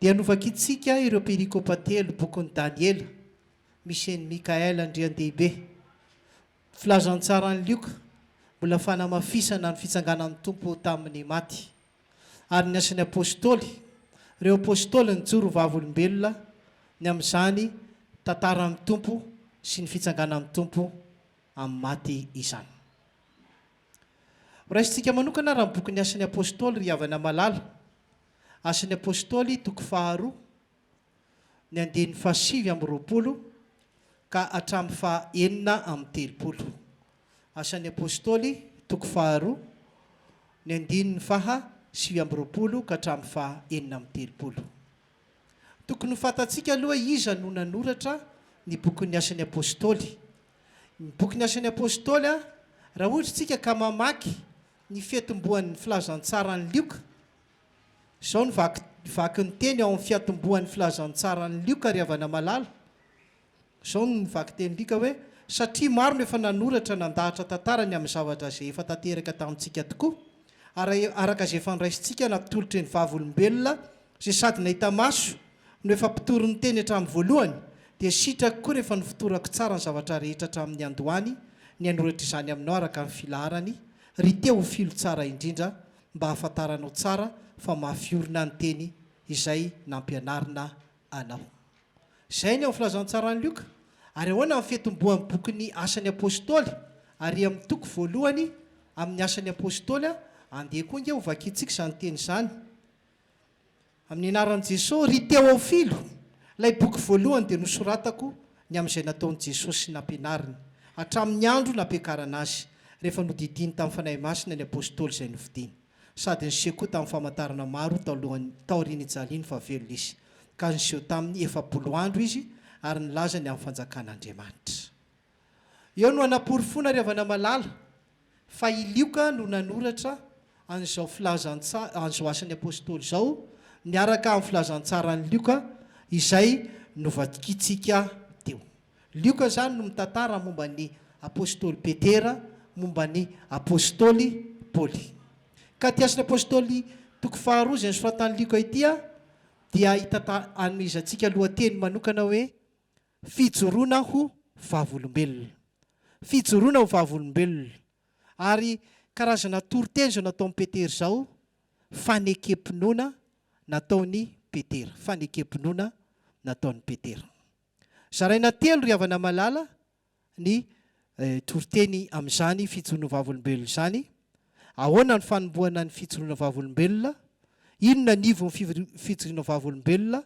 dia novakintsika ireo perikopa telo bokin'i Daniela, misy an'i Mikaela Andriandehibe, Filazantsaran'i Lioka, mbola fanamafisana ny fitsanganan'ny Tompo tamin'ny maty, ary ny Asan'ny Apostoly, ireo Apostoly nijoro ho vavolombelona ny amin'izany tantaran'ny Tompo sy ny fitsanganan'ny Tompo amin'ny maty izany. Horaisintsika manokana ary ny bokin'ny Asan'ny Apostoly, ry havana malala. Asan'ny Apôstôly, toko faharoa, ny andininy fahasivy amby roapolo ka hatramin'ny fahaenina amby telopolo. Asan'ny Apôstôly, toko faharoa, ny andininy faha sivy amby roapolo ka hatramin'ny faha enina amby telopolo. Tokony ho fantatsika aloha iza no nanoratra ny bokin'ny Asan'ny Apôstôly. Ny bokin'ny Asan'ny Apôstôly, raha ohatra isika ka mamaky ny fiatombohan'ny filazantsaran'i Lioka. Izao no vaky ny teny ao amin'ny fiatombohan'ny filazantsaran'i Lioka, ry havana malala. Izao no vaky tenin'i Lioka hoe, Satria maro no efa nanoratra nandahatra tantara ny amin'ny zavatra izay efa tanteraka tamintsika tokoa, ary araka izay efa noraisintsika natolotry ny Vavolombelona Izay sady nahita maso no efa mpitory ny teny hatramin'ny voalohany, dia sitrako koa rehefa nofotorako tsara ny zavatra rehetra hatramin'ny niandohany ny hanoratra izany aminao araka ny filaharany, ry Teofilo tsara indrindra, mba hahafantaranao tsara fa mafy orina ny teny izay nampianarina anao. Izay ny ao amin'ny Filazantsaran'i Lioka. Ary ahoana amin'ny fetim-boan'ny bokin'ny Asan'ny Apostoly, ary amin'ny toko voalohany amin'ny Asan'ny Apostoly? Andeha koa ange hovakintsika izany teny izany. Amin'ny anaran'i Jesosy, ry Teofilo, ilay boky voalohany dia nosoratako ny amin'izay nataon'i Jesosy sy nampianariny, hatramin'ny andro nampiakarana Azy, rehefa nodidiany tamin'ny Fanahy Masina ny Apostoly izay nofidiny, sady niseho koa tamin'ny famantarana maro talohany, taorian'ny nijaliany fa velona Izy, ka niseho taminy efapolo andro Izy ary nilaza ny amin'ny fanjakan'Andriamanitra. Eo no anaporofoana ry havana malala fa i Lioka no nanoratra an'izao filazantsa an'izao asan'ny Apostoly izao miaraka amin'ny filazantsaran'i Lioka izay novadikintsika teo. Lioka izany no mitantara momba ny Apostoly Petera, momba ny Apostoly Paoly. Ka ity Asan'ny Apostoly toko faharoa izay nosoratan'i Lioka ity dia hitanta anomezantsika lohateny manokana hoe, Fijoroana ho vavolombelona. Fijoroana ho vavolombelona. Ary karazana toriteny izao nataon'i Petera izao, fanekem-pinoana nataon'i Petera. Fanekem-pinoana nataon'i Petera. Zaraina telo ry havana malala ny toriteny amin'izany fijoroana vavolombelona izany, ahoana ny fanombohana ny fijoroana vavolombelona, inona ny ivon'ny fijoriana vavolombelona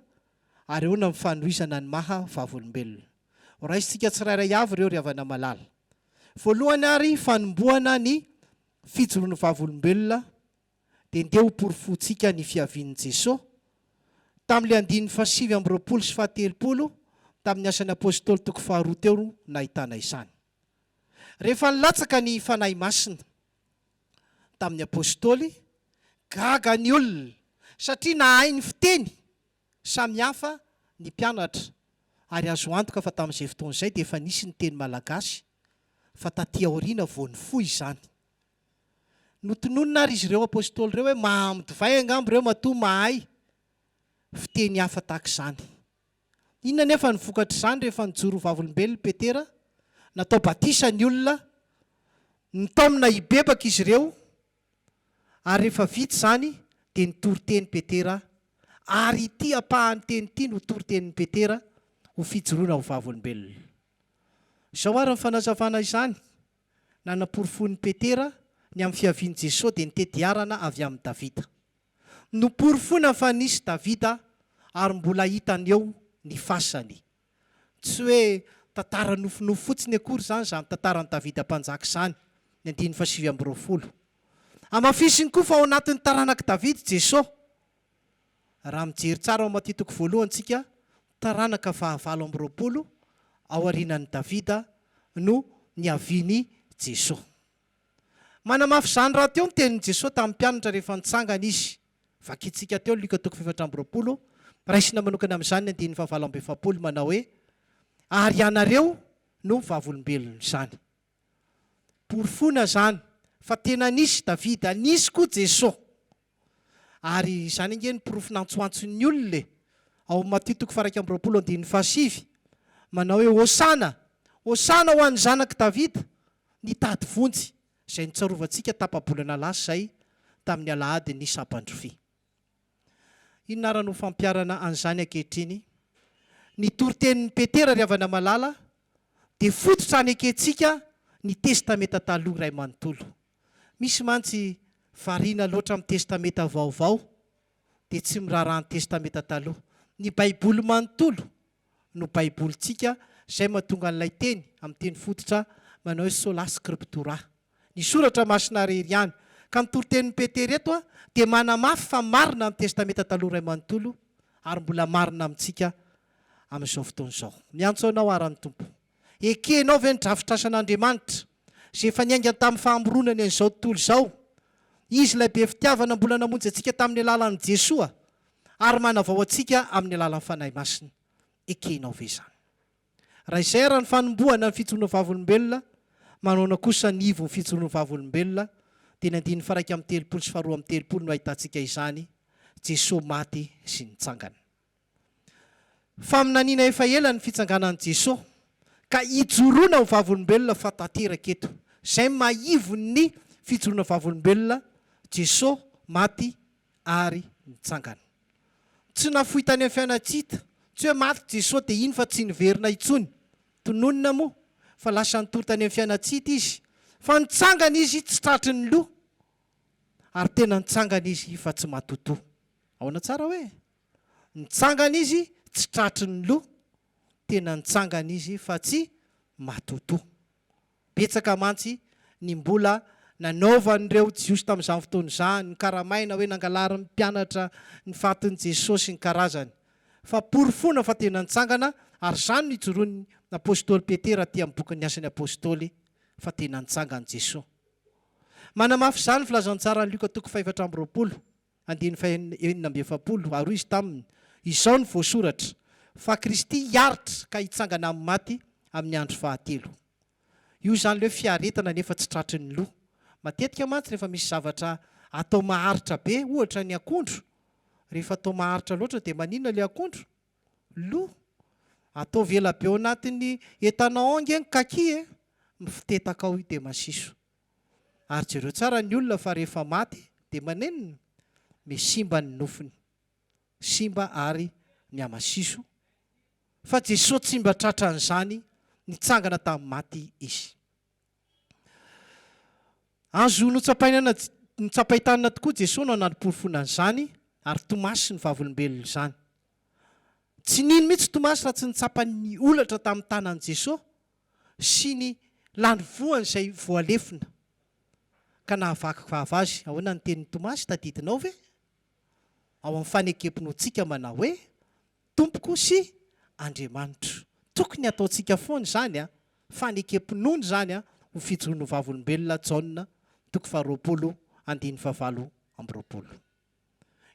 ary ahoana ny fanohizana ny maha vavolombelona. Horaisintsika tsirairay avy ireo ry havana malala. Voalohany ary fanombohana ny fijoroana vavolombelona. dia ndeha ho porofointsika ny fiavian'i Jesoa. Tamin'ilay andininy fahasivy amby roapolo sy fahatelopolo tamin'ny Asan'ny Apôstôly toko faharoa teo no nahitana izany. Rehefa nilatsaka ny Fanahy Masina tamin'ny Apôstôly, gaga ny olona satria nahay ny fiteny samy hafa ny mpianatra ary azo antoka fa tamin'izay fotoana izay dia efa nisy ny teny malagasy fa taty aoriana vao nifoha izany. Notononina àry izy ireo apostoly ireo hoe mahaamo divay angamba ireo matoa mahay fiteny hafa tahaka izany. Inona anefa ny vokatr'izany rehefa nijoro ho vavolombelona i Petera? Natao batisa ny olona, nitaomina hibebaka izy ireo, ary rehefa vita izany dia nitory teny Petera, ary ity ampahan'ny teny ity no toritenin'i Petera ho fijoroana ho vavolombelona. Izao àry ny fanazavana izany. Nanaporofoin'i Petera ny amin'ny fiavian'i Jesoa dia ny tediarana avy amin'i Davida. Noporofoina fa nisy Davida ary mbola hitany eo ny fasany. Tsy hoe tantara nofinofy fotsiny akory izany izany tantaran'i Davida Mpanjaka izany, ny andininy fahasivy amby roapolo. Hamafisiny koa fa ao anatin'ny taranak'i Davida Jesoa, Raha mijery tsara ao amin'ity Toko voalohany isika, taranaka fahavalo amby roapolo ao aorianan'i Davida no niavian'i Jesoa. Manamafy izany rahateo ny tenin'i Jesoa tamin'ny mpianatra rehefa nitsangana Izy. Vakintsika teo Lioka toko fahefatra amby roapolo, raisina manokana amin'izany ny andininy fahavalambiefapolo manao hoe, Ary ianareo no vavolombelon'izany. Porofoina izany fa tena nisy Davida, nisy koa Jeso. Ary izany ange no porofo nantsoantson'ny olona e! Ao amin'ny Matio toko faha-iraika amby roapolo andininy fahasivy, manao hoe, Hosana! Hosana ho an'ny Zanak'i Davida! Nitady vonjy, izay nitsarovantsika tapa-bolana lasa izay, tamin'ny alahadin'ny Saban-drofia. Inona àry no fampiharana an'izany ankehitriny? Ny toritenin'i Petera ry havana malala dia fototra hanekentsika ny Testamenta Taloha iray manontolo. Misy mantsy variana loatra amin'ny Testamenta Vaovao dia tsy miraharaha ny Testamenta Taloha. Ny Baiboly manontolo no Baibolintsika izay mahatonga an'ilay teny amin'ny teny fototra manao hoe Sola Scriptura, ny Soratra Masina irery ihany. Ka ny toritenin'i Petera eto dia manamafy fa marina ny Testamenta Taloha iray manontolo ary mbola marina amintsika amin'izao fotoana izao. Miantso anao àry ny Tompo. Ekenao ve ny drafitrasan'Andriamanitra? izay efa niaingany tamin'ny fahamoronany an'izao tontolo izao. Izy ilay be fitiavana mbola namonjy antsika tamin'ny alalan'i Jesoa ary manavao antsika amin'ny alalan'ny Fanahy Masina. Ekenao ve izany? Raha izay ary ny fanombohana ny fijoroana vavolombelona, manaona kosa ny ivon'ny fijoroana vavolombelona? Dia ny andininy faraika amby telopolo sy faharoa amby telopolo no ahitantsika izany, Jesoa maty sy nitsangana. Faminaniana efa ela ny fitsanganan'i Jeso ka ijoroana ho vavolombelona fa tanteraka eto. Izay maivon'ny fijoroana vavolombelona, Jeso maty ary nitsangana. Tsy nafoy tany amin'ny fiainantsita. Tsy hoe maty Jeso dia iny fa tsy niverina intsony. Tononina moa fa lasa nitory tany amin'ny fiainantsita Izy. Fa nitsangana Izy tsy tratry ny loha. Ary tena nitsangana Izy fa tsy matotoa. Ahoana tsara hoe? Nitsangana izy tsy tratry ny loha, tena nitsangana izy fa tsy matotoa. Betsaka mantsy ny mbola nanaovan'ireo Jiosy tamin'izany fotoana izany, nokaramaina hoe nangalarin'ny mpianatra ny fatin'i Jesoa sy ny karazany. Fa porofoina fa tena nitsangana, ary izany no ijoroan'ny apostoly Petera aty amin'ny bokin'ny Asan'ny Apostoly, fa tena nitsangana Jesoa. Manamafy izany ny filazantsaran'i Lioka toko fahefatra amby roapolo. andininy fahenina enina amby efapolo ary hoy izy taminy, Izao no voasoratra, fa Kristy hiaritra ka hitsangana amin'ny maty amin'ny andro fahatelo. Io izany ilay hoe fiaretana nefa tsy tratry ny loha. Matetika mantsy rehefa misy zavatra atao maharitra be, ohatra ny akondro, rehefa atao maharitra loatra dia maninona ilay akondro? Lo. Ataovy ela be ao anatin'ny etanaon nge ny kaki e! Mifotetaka ao io dia masiso. Ary jereo tsara ny olona fa rehefa maty dia manenina? Misimba ny nofony. Simba ary ny hamasiso. Fa Jesoa tsy mba tratran'izany, nitsangana tamin'ny maty Izy. Azo notsapaina notsapain-tanana tokoa Jesoa no nanaporofoana an'izany, ary Tomasy ny vavolombelona izany. Tsy nino mihitsy Tomasy raha tsy nitsapa ny holatra tamin'ny tanan'i Jesoa, sy ny lany voany izay voalefona ka nahavaky vava azy. Ahoana ny tenin'i Tomasy? Tadidinao ve ao amin'ny fanekem-pinoantsika manao hoe, Tompoko sy Andriamanitro? Tokony hataontsika foana izany fanekem-pinoana izany ho fijono ho vavolombelona, Jaona toko faharoapolo, andininy fahavalo amby roapolo.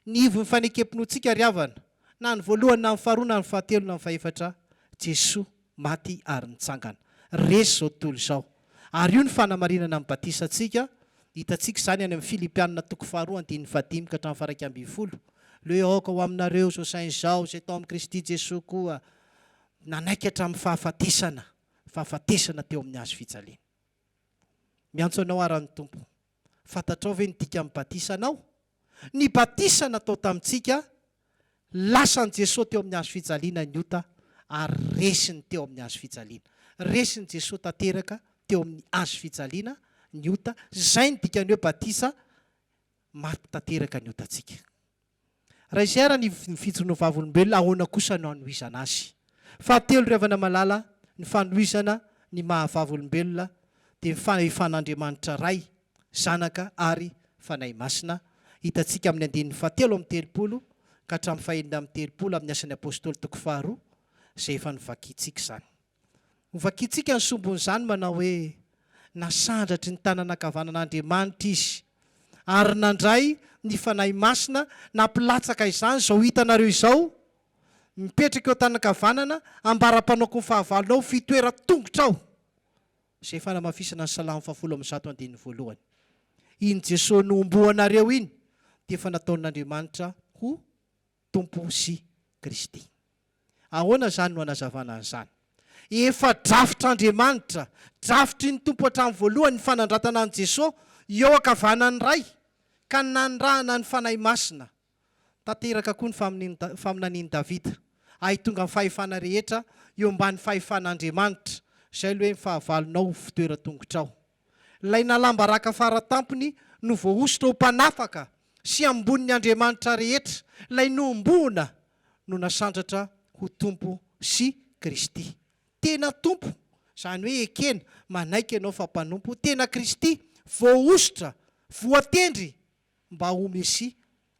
Ny ivon'ny fanekem-pinoantsika ry havana, na ny voalohany na ny faharoa na ny fahatelo na ny fahefatra, Jesoa maty ary nitsangana. Resy izao tontolo izao. Ary io ny fanamarinana ny batisantsika, hitantsika izany any amin'ny Filipianina toko faharoa andininy fahadimy ka hatramin'ny faharaika ambin'ny folo, Leo aoka ho aminareo izao saina izao, izay tao amin'i Kristy Jesoa koa nanaiky hatramin'ny fahafatesana, fahafatesana teo amin'ny hazo fijaliana. Miantso anao ara ny Tompo. Fantatrao ve ny dikan'ny batisa anao? Ny batisa natao tamintsika, lasan'i Jesoa teo amin'ny hazo fijaliana ny ota ary resiny teo amin'ny hazo fijaliana. Resin'i Jesoa tanteraka teo amin'ny hazo fijaliana ny ota, izay ny dikan'ny hoe batisa, maty tanteraka ny otantsika. Raiser ny ny fijoroana ho vavolombelona ahoana kosa no hanohizana azy? Fahatelo ry havana malala ny fanohizana ny maha vavolombelona dia ny fahefan'Andriamanitra Ray, Zanaka ary Fanahy Masina hitantsika amin'ny andininy fahatelo amby telopolo ka hatramin'ny fahenina amby telopolo amin'ny Asan'ny Apostoly toko faharoa izay efa novakintsika izany. Ho vakintsika ny sombin'izany manao hoe, Nasandratry ny tanana ankavanan'Andriamanitra izy, ary nandray ny Fanahy Masina nampilatsaka izany izao hitanareo izao, mipetraka eo an-tanankavanana ambara-panaoko ny fahavalonao, fitoeran-tongotrao. Izay fanamafisana ny Salamo fahafolo amby zato andininy voalohany. Iny Jesoa nohomboanareo iny dia efa nataon'Andriamanitra ho Tompo sy Kristy. Ahoana izany no anazavana an'izany? Efa drafitr'Andriamanitra, drafitry ny Tompo hatramin'ny voalohany ny fanandratana an'i Jesoa eo ankavanan'ny Ray, ka ny nanirahana ny Fanahy Masina. Tanteraka koa ny faminanian'i faminanian'i Davida, Ahy tonga ny fahefana rehetra eo ambany fahefan'Andriamanitra, izay aloha hoe ny fahavalonao ho fitoeran-tongotrao. Ilay nalam-baraka fara tampony no voahosotra ho mpanafaka sy ambonin'ny andriamanitra rehetra, ilay nohomboana no nasandratra ho Tompo sy Kristy. Tena Tompo, izany hoe ekena, manaiky ianao fa mpanompo, tena Kristy, voahosotra, voatendry mba ho Mesia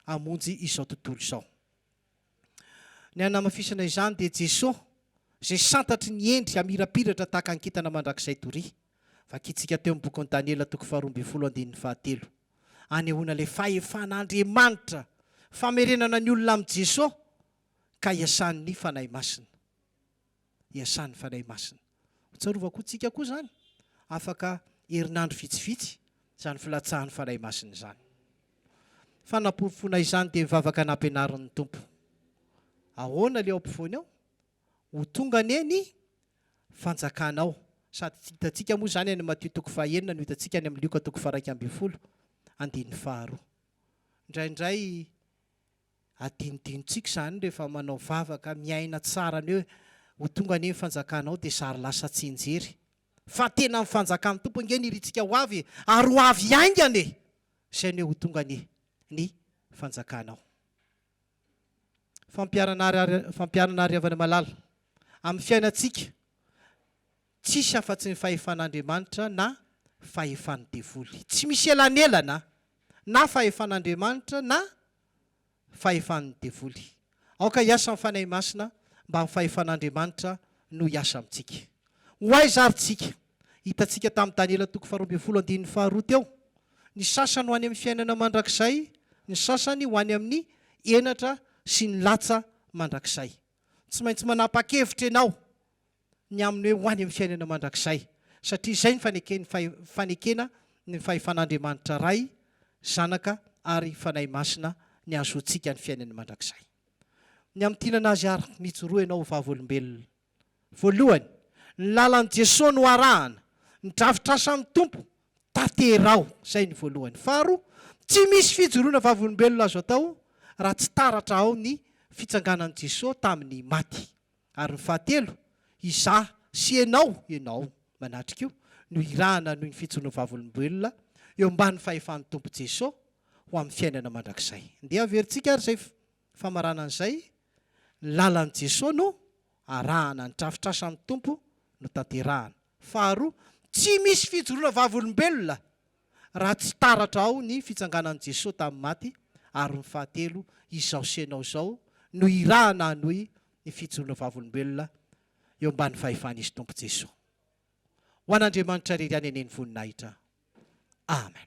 hamonjy izao tontolo izao. Ny hanamafisana izany dia Jeso izay santatry ny hendry hamirapiratra tahaka ny kintana mandrakizay doria. Vakintsika teo amin'ny bokin'i Daniela toko faharoa ambin'ny folo andininy fahatelo. Anehoana ilay fahefan'Andriamanitra, famerenana ny olona amin'i Jeso ka iasan'ny Fanahy Masina. iasan'ny Fanahy Masina. Hotsarovako ho tsika koa izany, afaka herinandro vitsivitsy, izany filatsahan'ny Fanahy Masina izany. Fanaporofoana izany dia mivavaka nampianarin'ny Tompo. Ahoana ilay ao ampovoany ao? Ho tonga anie ny fanjakanao. Sady hitantsika moa izany any Matio toko fahenina no hitantsika any amin'ny Lioka toko faharaika ambin'ny folo, andininy faharoa. Indraindray Adinodinontsika izany rehefa manao vavaka miaina tsara ny hoe ho tonga anie ny fanjakanao dia zary lasa tsianjery. Fa tena amin'ny fanjakan'ny Tompo ange ny irintsika ho avy e! Ary ho avy haingana e! Izay ny hoe ho tonga anie ny fanjakanao. Fampianana Fampianana Ry havana malala, amin'ny fiainantsika tsisy afa-tsy ny fahefan'Andriamanitra na fahefan'ny devoly. Tsy misy elanelana na fahefan'Andriamanitra na fahefan'ny devoly. Aoka hiasa ny Fanahy Masina mba ny fahefan'Andriamanitra no hiasa amintsika. Ho aiza ary tsika? Hitantsika tamin'i Daniela toko faharoa ambin'ny folo andininy faharoa teo, ny sasany ho any amin'ny fiainana mandrakizay, ny sasany ho any amin'ny henatra sy ny latsa mandrakizay. Tsy maintsy manapa-kevitra ianao. ny amin'ny hoe ho any amin'ny fiainana mandrakizay, satria izay ny faneken'ny fahe, fanekena ny fahefan'Andriamanitra Ray, Zanaka ary Fanahy Masina ny hahazoantsika ny fiainany mandrakizay. Ny amin'ny tiana an'Azy ary mijoroa ianao ho vavolombelona. Voalohany, ny lalan'i Jesoa no arahana, ny drafitr'asan'ny Tompo tanteraho, izay ny voalohany. Faharoa, tsy misy fijoroana vavolombelona azo atao raha tsy taratra ao ny fitsanganan'i Jesoa tamin'ny maty. Ary ny fahatelo, izaho sy ianao, ianao manatrika io, no hirahana noho ny fijoroan'ny Vavolombelona eo ambany fahefan'ny Tompo Jeso ho amin'ny fiainana mandrakizay. Ndeha averintsika ary izay famaranana izay, Ny lalan'i Jeso no arahana, ny drafitrasan'ny Tompo no tanterahana. Faharoa, tsy misy fijoroana vavolombelona raha tsy taratra ao ny fitsanganan'i Jesoa tamin'ny maty, ary ny fahatelo, izao sy ianao izao no irahana hanohy ny fijoroana vavolombelona eo ambany fahefan'Izy Tompo Jesoa. Ho an'Andriamanitra irery ihany anie ny voninahitra. Amen.